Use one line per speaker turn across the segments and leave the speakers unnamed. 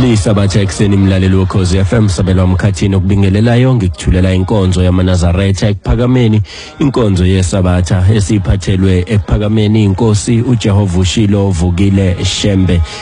lisabatha ekuseni mlaleli wokhozi FM sabelwa umkhathini okubingelelayo ngikuthulela inkonzo yamanazaretha ekuphakameni inkonzo yesabatha esiphathelwe ekuphakameni inkosi uJehova ushilo vukile shembe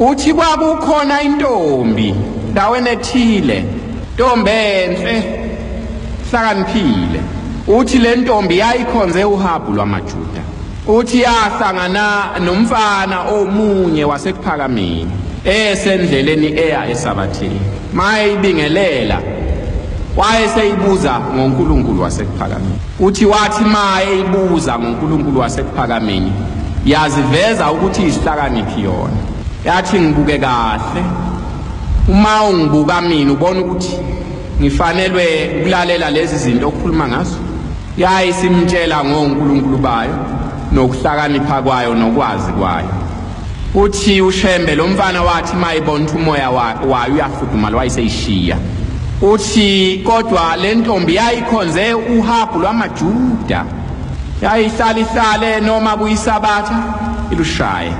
Uthi kwakukhona intombi ndaweni ethile, ntombi enhle hlakaniphile. Uthi le ntombi yayikhonze uhabu lwamaJuda. Uthi yahlangana nomfana omunye wasekuphakameni esendleleni eya esabathini. Mayibingelela wayeseyibuza ngoNkulunkulu wasekuphakameni. Uthi wathi ma eyibuza ngoNkulunkulu wasekuphakameni yaziveza ukuthi isihlakaniphi yona yathi ngibuke kahle uma ungibuka mina ubona ukuthi ngifanelwe ukulalela lezi zinto okukhuluma ngazo yayisimtshela ngoNkulunkulu bayo nokuhlakanipha kwayo nokwazi kwayo Uthi uShembe lo mfana wathi mayibona ukuthi umoya wayo uyafudumala wayiseyishiya. Uthi kodwa le ntombi yayikhonze uhabhu lwamaJuda. Yayihlala ihlale noma kuyisabatha ilushaye.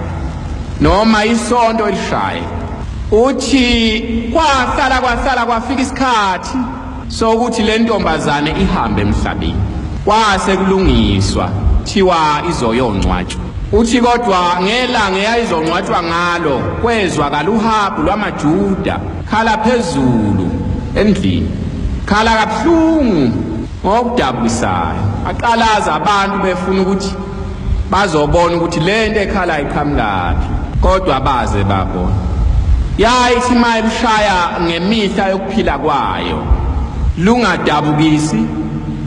Noma isonto ilushaye. Uthi kwahlala kwahlala kwafika isikhathi so ukuthi le ntombazane ihambe emhlabeni kwase kulungiswa thiwa izoyongcwatshwa uthi kodwa ngelanga eyayizongcwatshwa ngalo kwezwakala uhabu lwamajuda khala phezulu endlini khala kabuhlungu ngokudabukisayo aqalaza abantu befuna ukuthi bazobona ukuthi le nto ekhala iqhamukaphi kodwa baze babona yayithi uma elushaya ngemihla yokuphila kwayo lungadabukisi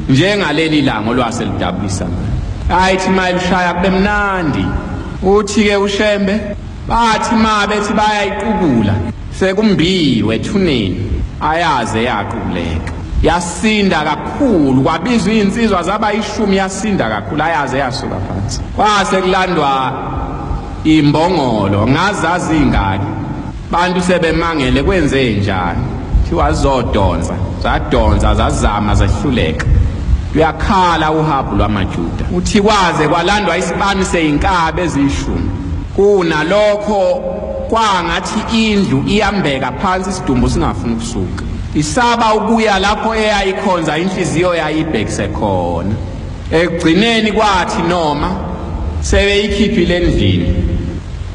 njengaleli langa olwase lidabukisa ngayo ayithi uma elushaya kube mnandi uthi-ke ushembe bathi ma bethi bayayiqukula Sekumbiwe ethuneni ayaze yaquleka. Yasinda kakhulu kwabizwa izinsizwa zaba ishumi yasinda kakhulu ayaze yasuka phansi. Kwase kulandwa imbongolo ngazazi ingaki. Bantu sebemangele kwenze njani? Thiwa zodonsa, zadonsa zazama zehluleka. Uyakhala uhabu lwamaJuda. Uthi kwaze kwalandwa isibani seinkabi ezishumi. Kunalokho kwangathi indlu iyambeka phansi isidumbu singafuni ukusuka isaba ukuya lapho eyayikhonza inhliziyo yayibhekise khona ekugcineni kwathi noma sebeyikhiphile endlini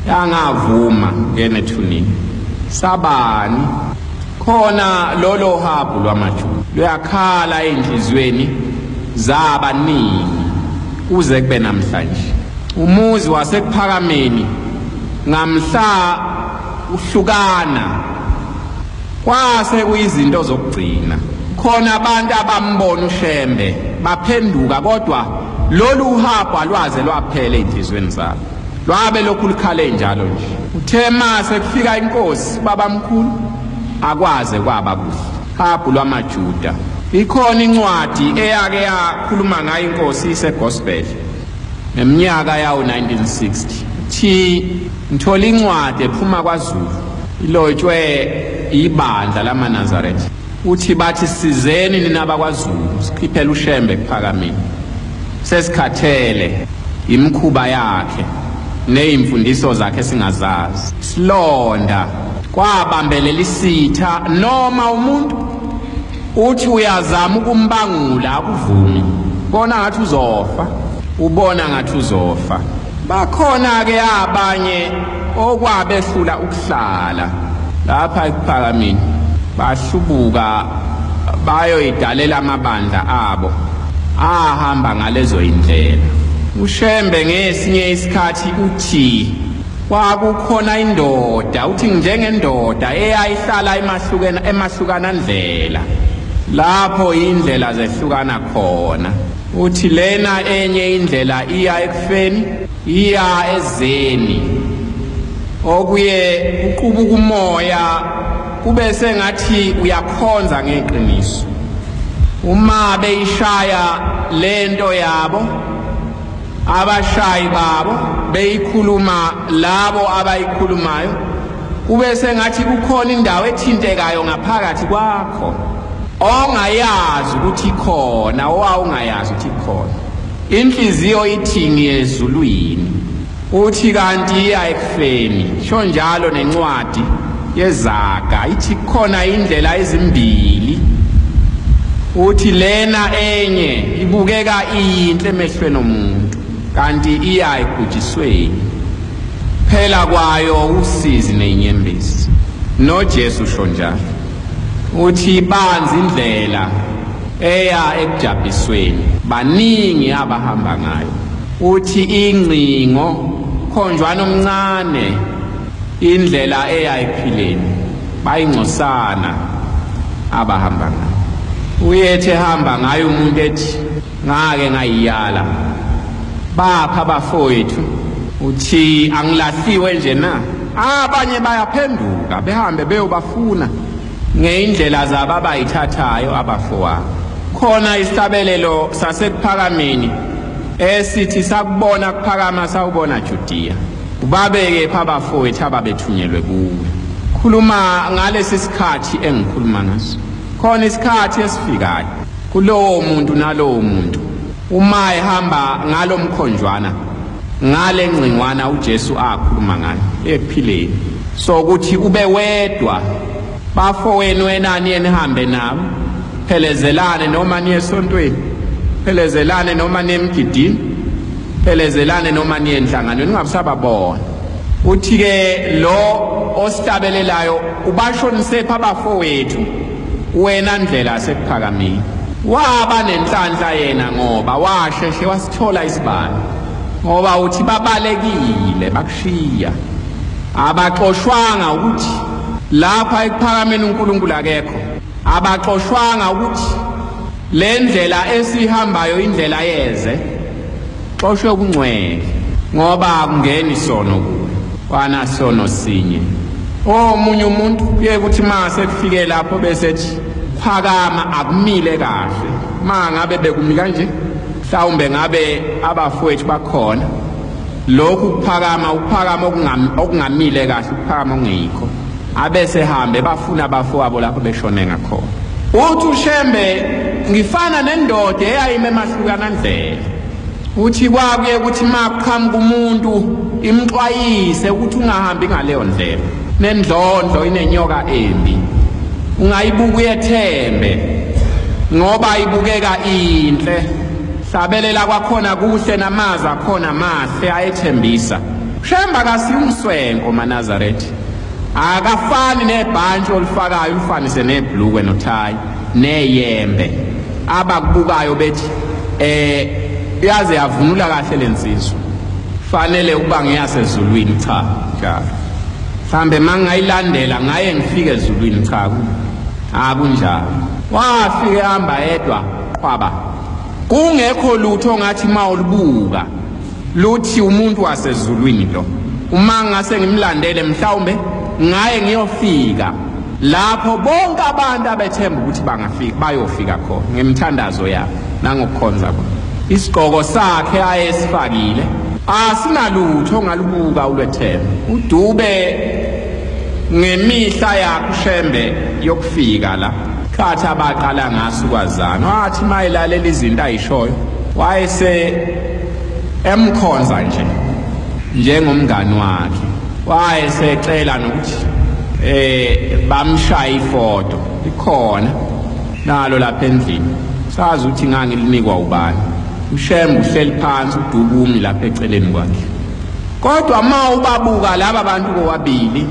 yangavuma ngenethunini sabani khona lolo habhu lwamajuda luyakhala ey'nhliziyweni zabaningi kuze kube namhlanje umuzi wasekuphakameni Ngamhla uhlukana kwase kuyizinto zokugcina khona abantu abambona uShembe baphenduka kodwa lolu uhambo alwaze lwaphela ezinhlizweni zabo lwabe lokhu likhale njalo nje uthe mase kufika inkosi babamkhulu akwaze kwaba kuhle habhu lwamajuda ikhona incwadi eyake yakhuluma ngayo inkosi isegospel Ngeminyaka yawo-1960, thi ngithola incwadi ephuma kwaZulu ilotshwe ibandla lamaNazaretha. Uthi bathi sizeni nina bakwaZulu sikhiphele uShembe kuPhakamile. Sesikhathele yimikhuba yakhe neyimfundiso zakhe singazazi. Silonda kwabambelela isitha noma umuntu. Uthi uyazama ukumbangula akuvumi. Bona ngathi uzofa. Ubona ngathi uzofa. Bakhona ke abanye okwabehlula ukuhlala lapha ekuphakamini. Bahlubuka bayoyidalela amabandla abo ahamba ngalezo indlela. UShembe ngesinye isikhathi uthi Kwakukhona indoda uthi njengendoda eyayihlala emahlukena emahlukana ndlela lapho indlela zehlukana khona uthi lena enye indlela iya ekufeni iya ezeni okuye uqubuka umoya kube sengathi uyakhonza ngeqiniso uma beyishaya lento yabo abashayi babo beyikhuluma labo abayikhulumayo kube sengathi kukhona indawo ethintekayo ngaphakathi kwakho ongayazi ukuthi khona owawungayazi ukuthi khona inhliziyo ithingi ezulwini Uthi kanti iya ekufeni, sho njalo nencwadi yezaga ithi khona indlela ezimbili. Uthi lena enye ibukeka iyinhle emehlweni omuntu kanti iya ekujisweni. Phela kwayo usizi nenyembezi. NoJesu sho njalo. Uthi banzi indlela eya ekujabhisweni. Baningi abahamba ngayo. Uthi ingcingo khonjwana omncane indlela eyayiphileni bayingcosana abahamba ngayo. Uyethe hamba ngayo umuntu ethi ngake ngayiyala. Bapha bafowethu uthi angilahliwe nje na? Abanye bayaphenduka behambe beyobafuna. Ngeyindlela zabo abayithathayo abafowabo. Khona isihlabelelo sasekuphakameni esithi sakubona kuphakama sawubona Judiya. Ubabeke pha abafowethu ababethunyelwe kuwe. Khuluma ngalesi sikhathi engikhuluma ngaso. Khona isikhathi esifikayo kulowo muntu nalowo muntu Uma ehamba ngalo mkhonjwana ngale ngcingwana uJesu akhuluma ngayo ekuphileni so ukuthi ube wedwa bafo wenu enani enihambe nabo phelezelane noma niye esontweni phelezelane noma niye emgidini phelezelane noma niye enhlanganweni ungabusababona uthi-ke lo osihlabelelayo ubashonisephi abafowethu Wena ndlela sekuphakamile. Waba nenhlanhla yena ngoba washeshe wasithola isibani. Ngoba uthi babalekile bakushiya. Abaxoshwanga ukuthi lapha ekuphakameni uNkulunkulu akekho. Abaxoshwanga ukuthi le ndlela esihambayo indlela yeze. Xoshwe ukungcwele ngoba akungeni sono kuwe. Wana sono sinye. Omunye umuntu uye kuthi ma sekufike lapho bese ethi phakama akumile kahle. Ma ngabe bekumi kanje mhlawumbe ngabe abafowethu bakhona lokhu kuphakama ukuphakama okungamile kahle ukuphakama ongeyikho abese hambe bafuna abafowabo lapho beshone ngakhona uthi ushembe ngifana nendoda eyayime emahlukana ndlela uthi kwakuye ukuthi maqhamuka umuntu imxwayise ukuthi ungahambi ngaleyo ndlela nendlondlo inenyoka embi ungayibuka uyethembe ngoba ibukeka inhle sabelela kwakhona kuhle namazi akhona mahle ayethembisa shemba kasiyumswenko manazaretha akafani nebhantshi olifakayo ulifanise nebhlukwe nothayi neyembe abakubukayo bethi eh yaze yavunula kahle lensizwa fanele ukuba ngeyasezulwini cha njalo mhlambe mangayilandela ngaye ngifike ezulwini cha akunjalo wafike hamba yedwa qhwaba kungekho lutho ngathi mawulibuka Luthi umuntu wasezulwini lo. Uma ngase ngimlandele mhlawumbe ngaye ngiyofika lapho bonke abantu abethemba ukuthi bangafika bayofika khona ngemthandazo yabo nangokukhonza kwabo. Isigqoko sakhe ayesifakile asinalutho ngalubuka ulwethemba. Udube ngemihla yakho shembe yokufika la. Khathi abaqala ngaso kwazana wathi mayilalela izinto ayishoyo wayese emkhonza nje njengomngani wakhe wayesecela nokuthi eh bamshaya ifoto ikhona nalo lapha endlini sazi ukuthi ngangilinikwa ubani ushembe uhleli phansi udubumi lapha eceleni kwakhe kodwa ma ubabuka laba bantu bobabili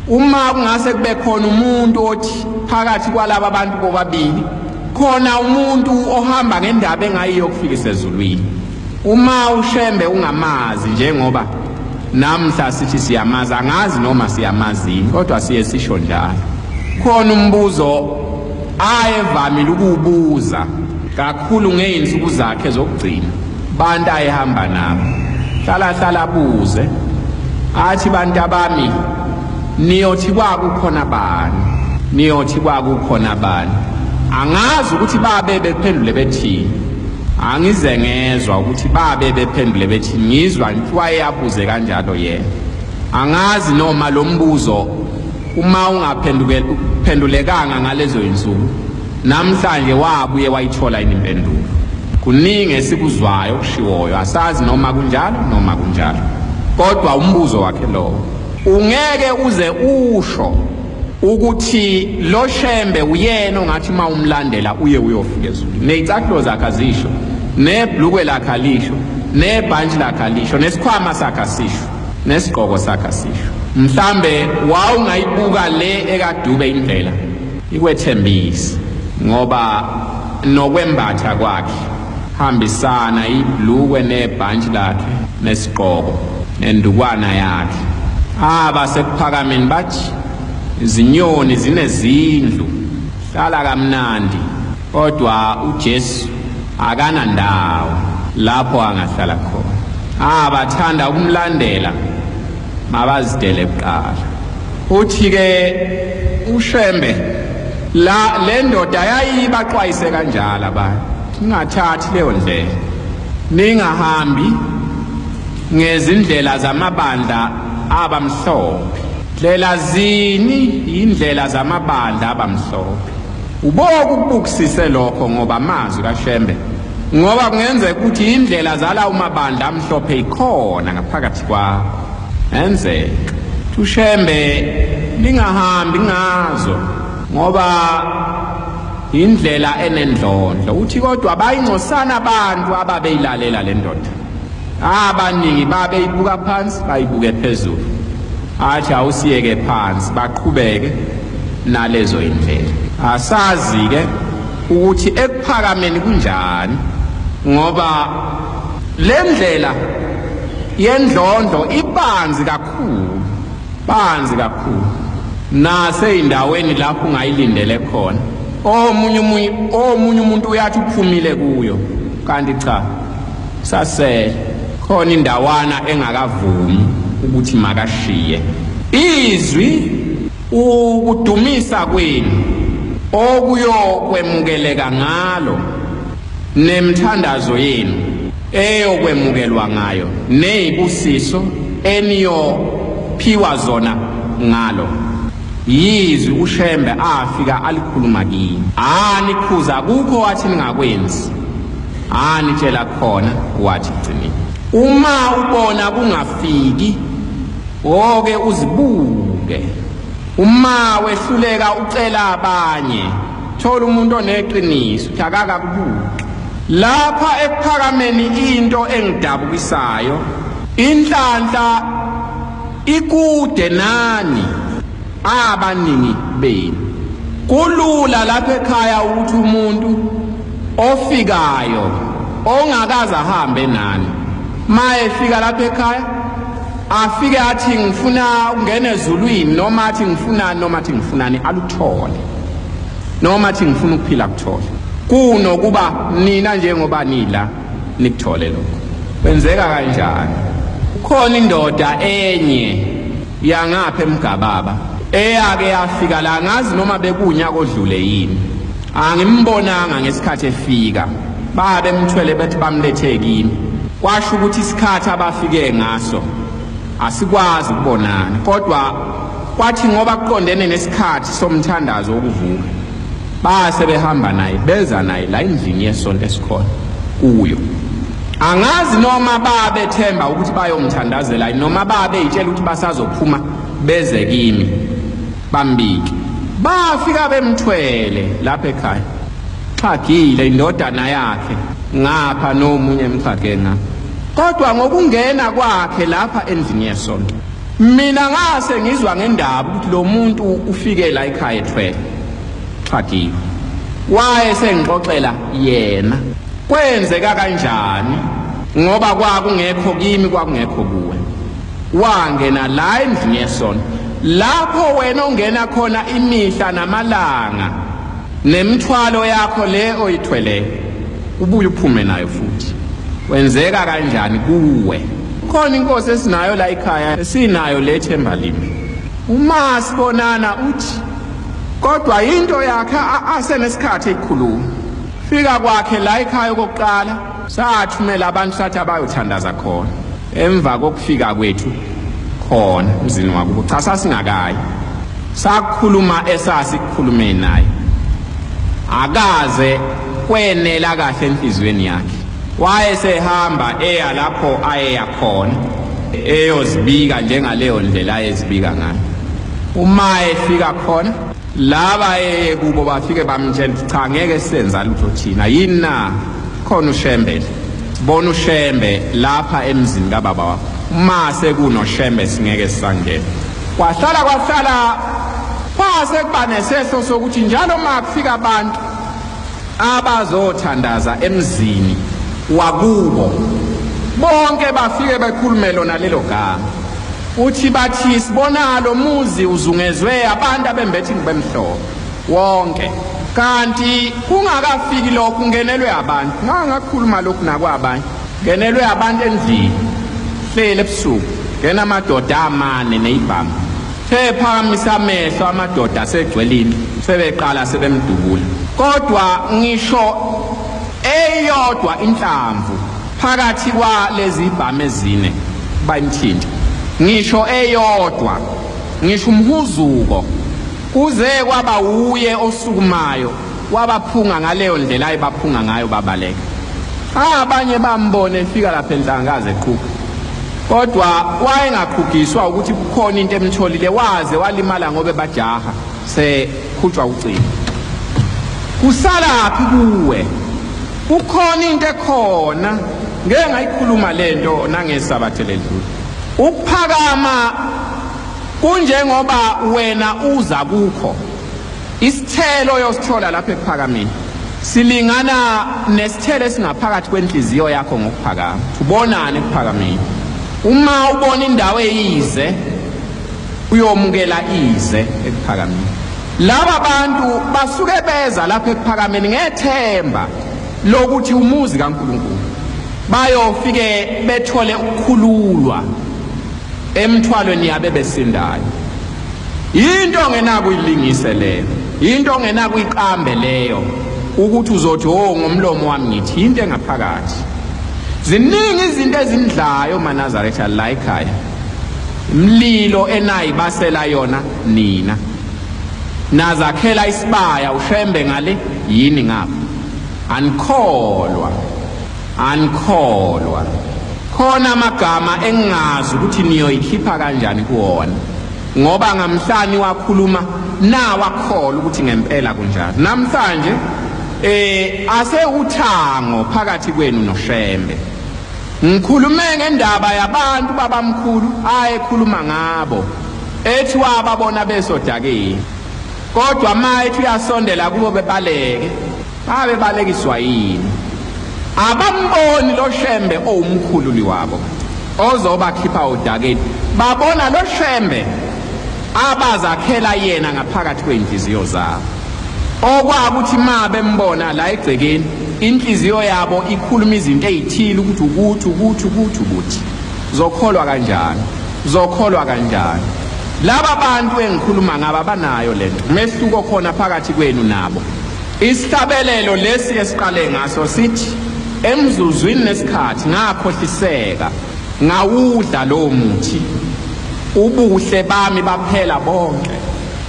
uma kungase kube khona umuntu othi phakathi kwalaba bantu bobabili khona umuntu ohamba ngendaba engayiyo ukufika isezulwini uma ushembe ungamazi njengoba namhla sithi siyamazi angazi noma siyamazini kodwa siye sisho njalo khona umbuzo ayevamile ukuwubuza kakhulu ngeyinsuku zakhe zokugcina Bantu ayihamba nabo. Hlala hlala buze. Athi bantu abami niyothi kwakukhona bani? Niyothi kwakukhona bani? Angazi ukuthi babe bephendule bethini. Angize ngezwa ukuthi babe bephendule bethi ngizwa ntwaye yabuze kanjalo yena. Angazi noma lo mbuzo uma ungaphendukela uphendulekanga ngalezo insuku Namhlanje wabuye wayithola yini impendulo? Kuningi esikuzwayo okushiwoyo, asazi noma kunjalo noma kunjalo. Kodwa umbuzo wakhe lowo. Ungeke uze usho ukuthi lo Shembe uyena ongathi uma umlandela uye uyofika ezulwini. Nezicathulo zakhe azisho, nebhlukwe lakhe alisho, nebhantshi lakhe alisho, nesikhwama sakhe asisho, nesigqoko sakhe asisho. Mhlambe wawungayibuka le ekaDube indlela. ikwethembise ngoba nokwembatha kwakhe hambisana iblukwe nebhantshi lakhe nesigqoko nendukwana yakhe abasekuphakameni bathi izinyoni zinezindlu hlala kamnandi kodwa uJesu akanandawo lapho angahlala khona abathanda ukumlandela mabazidele kuqala uthi ke ushembe la le ndoda yayibaxwayise kanjalo abantu ningathathi leyo ndlela ningahambi ngezindlela zamabandla abamhlophe ndlela zini yindlela zamabandla abamhlophe Uboka ukubukisise lokho ngoba amazwi kaShembe ngoba kungenzeka ukuthi indlela zala umabandla amhlophe ikhona ngaphakathi kwakho. Enzeka uShembe lingahambi ngazo ngoba indlela enendlondlo uthi kodwa bayingcosana abantu ababeyilalela le ndoda abaningi babeyibuka phansi bayibuke phezulu athi awusiyeke phansi baqhubeke nalezo imvelo. Asazi-ke ukuthi ekuphakameni kunjani ngoba le ndlela yendlondlo ibanzi kakhulu banzi kakhulu naseyindaweni lapho ungayilindele khona omunye omunye umuntu uyathi uphumile kuyo kanti cha Sasele khona indawana engakavumi ukuthi makashiye. Izwi ukudumisa kwenu okuyokwemukeleka ngalo nemthandazo yenu eyokwemukelwa ngayo neyibusiso eniyophiwa zona ngalo yizwi ushembe afika alikhuluma kini anikhuza kukho wathi ningakwenzi Ah nitshela khona wathi gcini. Uma ubona kungafiki oke uzibuke. Uma wehluleka ucela abanye. Thola umuntu oneqiniso, thakaka kubuke. Lapha ekuphakameni into engidabukisayo inhlanhla ikude nani abaningi benu kulula lapha ekhaya ukuthi umuntu ofikayo ongakaze ahambe nani maye fika lapha ekhaya afike athi ngifuna ukungena ezulwini noma athi ngifunani noma athi ngifunani aluthole noma athi ngifuna ukuphila kuthole kunokuba nina njengoba nila nikuthole lokho kwenzeka kanjani khona indoda enye yangapha emgababa eyake yafika la ngazi noma bekunyaka odlule yini Angimbonanga ngesikhathi efika. Baya bemthwele bethi bamlethe kimi. Kwasho ukuthi isikhathi abafike ngaso asikwazi ukubonana kodwa kwathi ngoba kuqondene nesikhathi somthandazo wokuvuka baya sebehamba naye beza naye la endlini yesonto esikhona kuyo angazi noma babethemba ukuthi bayomthandazela noma babeyitshela ukuthi basazophuma beze kimi Bambike. Bafika bemthwele lapha ekhaya. Xhagile indodana yakhe ngapha nomunye emxhage na. Kodwa ngokungena kwakhe lapha endlini yesonto. Mina ngase ngizwa ngendaba ukuthi lo muntu ufike la ekhaya ethwele. Xhagile. Waye sengixoxela yena. Kwenzeka kanjani? Ngoba kwakungekho kimi kwakungekho kuwe. wangena la endlini yesono lapho wena ongena khona imihla namalanga nemthwalo yakho le oyithweleyo ubuye uphume nayo futhi wenzeka kanjani kuwe khona inkosi esinayo la ekhaya esinayo le themba limi uma sibonana uthi kodwa into yakhe asenesikhathi ekhuluma fika kwakhe la ekhaya okokuqala Sathumela abantu sathi abayothandaza khona emva kokufika kwethu khona emzini wakubo cha sasingakayi sakhuluma esasikhulume naye akaze kwenela kahle enhliziyweni yakhe wayesehamba eya lapho ayeya khona eyozibika njengaleyo ndlela ayezibika ngayo uma efika khona laba eye kubo bafike bamtshela ukuthi cha ngeke senza lutho thina yini na khona ushembe bona ushembe lapha emzini kababa wakho uma sekunoshembe singeke sisangena kwahlala kwahlala kwase kuba nesehlo sokuthi njalo uma kufika abantu abazothandaza emzini wakubo bonke bafike bekhulume lona lelo gama Uthi bathi sibona lo muzi uzungezwe abantu abembethe ngibemhlophe wonke kanti kungakafiki lokhu ngenelwe abantu ngangakhuluma lokhu nakwabanye ngenelwe abantu endlini hlele ebusuku ngena amadoda amane neyibhamu sephakamisa amehlo amadoda asegcwelini sebeqala sebemdubula kodwa ngisho eyodwa inhlamvu Phakathi kwalezi ibhamu ezine bayimthinta ngisho eyodwa ngisho umhuzuko kuze kwaba wuye osukumayo wabaphunga ngaleyo ndlela ayibaphunga ngayo babaleka abanye bambone efika lapha enhlangaze eqhuba kodwa wayengaqhugiswa ukuthi kukhona into emtholile waze walimala ngobe bajaha sekhutshwa ucingo kusalaphi kuwe ukhona into ekhona ngeke ngayikhuluma lento nangesabathe ledlule ukuphakama kunjengoba wena uza kukho isithelo yosithola lapha ekuphakameni silingana nesithelo esingaphakathi kwenhliziyo yakho ngokuphakama ubonane ekuphakameni uma ubona indawo eyize uyomukela ize ekuphakameni laba bantu basuke beza lapha ekuphakameni ngethemba lokuthi umuzi kaNkuluNkulu bayofike bethole ukukhululwa emthwalweni yabe besindayo into ongenako uyilingise leyo into ongenako uyiqambe leyo ukuthi uzothi o oh, ngomlomo wami ngithi into engaphakathi ziningi izinto ezindlayo manazaretha la ekhaya mlilo enayibasela yona nina nazakhela isibaya ushembe ngale yini ngapha anikholwa anikholwa khona amagama engingazi ukuthi niyoyikhipha kanjani kuwona ngoba ngamhlanje wakhuluma nawakhola ukuthi ngempela kunjalo namhlanje eh ase uthango phakathi kwenu noshembe Ngikhulume ngendaba yabantu babamkhulu ayekhuluma ngabo ethi wababona besodakeni kodwa ma ethi uyasondela kubo bebaleke babe balekiswa yini abamboni lo shembe owumkhululi wabo ozobakhipha odakeni babona lo shembe abazakhela yena ngaphakathi kwey'nhliziyo zabo okwakuthi ma bembona la egcekeni inhliziyo yabo ikhuluma izinto ezithile ukuthi ukuthi ukuthi ukuthi ukuthi zokholwa kanjani zokholwa kanjani laba bantu engikhuluma ngabo abanayo lento umehluko khona phakathi kwenu nabo isihlabelelo lesi esiqale ngaso sithi emzuzwini nesikhathi ngakhohliseka ngawudla lowo muthi ubuhle bami baphela bonke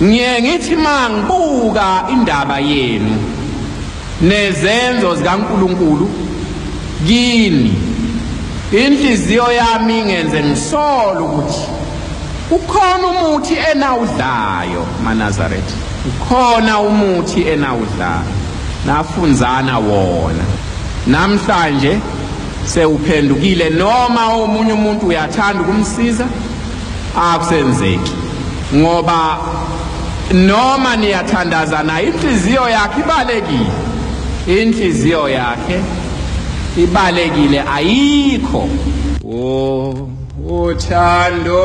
Ngiye ngithi mangibuka indaba yenu nezenzo zikaNkuluNkulu kini inhliziyo yami ngenze ngisole ukuthi ukhona umuthi enawudlayo maNazaretha ukhona umuthi enawudlayo nafunzana wona namhlanje sewuphendukile noma omunye umuntu uyathanda ukumsiza akusenzeki ngoba noma niyathandaza naye inhliziyo yakhe ibalekile inhliziyo yakhe ibalekile ayikho o uthando